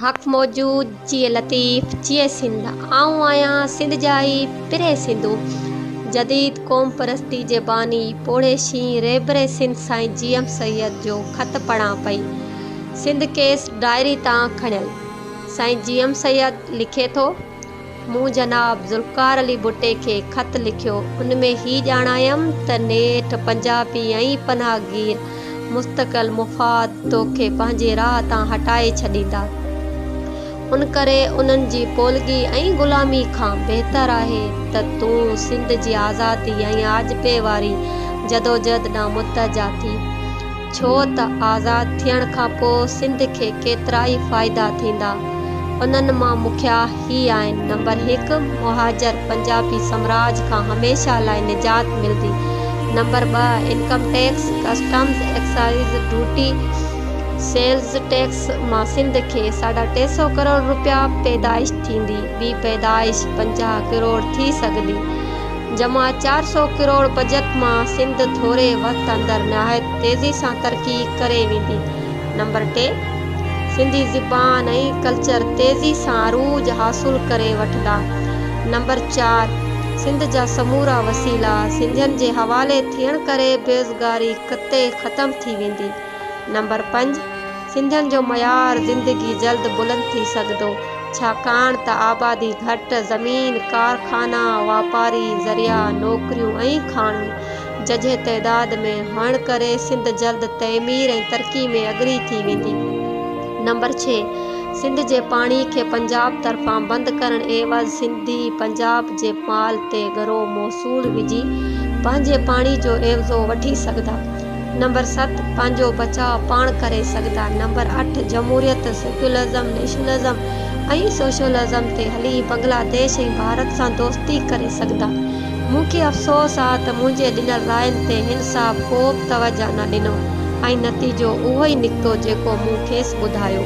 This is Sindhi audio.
حق موجود چيء لطيف چيء سنڌ آئون آهيان سنڌ جا ئي پرهي سنڌو جديد قوم پرستي جي باني پوڙهي شينهن رهبر سنڌ سائين جي ايم سيد جو خط پڙهان پئي سنڌ ڪيس ڊائري تان کڻيل سائين جي ايم سيد لکي ٿو. مون جناب ذوالفقار علي ڀٽي کي خط لکيو، ان ۾ هي ڄاڻايم ته نيٺ پنجابي ۽ پناهگير مستقل مفاد توکي پنهنجي راهه تان هٽائي ڇڏيندا، ان ڪري انهن جي پولگي ۽ غلامي کان بهتر آهي ته تون سنڌ جي آزادي ۽ آجپي واري جدوجهد ڏانهن متحجا ٿي. ڇو ته آزاد ٿيڻ کان پوء سنڌ کي ڪيترائي فائدا ٿيندا انهن مان مکيا هي آهن نمبر هڪ مهاجر پنجابي سمراج کان هميشه لاء نجات ملدي نمبر ٻه income tax customs excise duty sales tax مان سنڌ کي ساڍا ٽي سئو ڪروڙ روپيا پيدائش ٿيندي ٻي پيدائش پنجاهه ڪروڙ ٿي سگهندي جمع چار سؤ ڪروڙ بجيٽ مان سنڌ ٿوري وقت اندر نهايت تيزي سان ترقي ڪري ويندي. نمبر ٽي، سنڌي زبان ۽ ڪلچر تيزي سان عروج حاصل ڪري وٺندا. نمبر چار، سنڌ جا سمورا وسيلا سنڌين جي حوالي ٿيڻ ڪري بيزگاري قطعي ختم ٿي ويندي. نمبر پنج، سنڌين جو معيار زندگي جلد بلند ٿي سگهندو، ڇاڪاڻ ته آبادي گهٽ، زمين، ڪارخانا، واپاري ذريعا، نوڪريون ۽ کاڻيون ججهي تعداد ۾ هئڻ ڪري سنڌ جلد تعمير ۽ ترقي ۾ اڳري ٿي ويندي. نمبر ڇهه، سنڌ جي پاڻي کي پنجاب طرفان بند ڪرڻ عيوض سنڌي پنجاب جي مال تي ڳرو موصول وجهي پنهنجي پاڻي جو عيوضو وٺي سگهندا. نمبر ست، پنهنجو بچاء پاڻ ڪري سگهندا. نمبر اٺ، جمهوريت، سيڪيولزم، نيشنلزم ۽ سوشلزم تي هلي بنگلا ديش ۽ ڀارت سان دوستي ڪري سگهندا. مون کي افسوس آ ته منهنجي ڏنل راين تي هن صاحب ڪوبه توجهه نه ڏنو ۽ نتيجو اهوئي نڪتو جيڪو مون کيس ٻڌايو.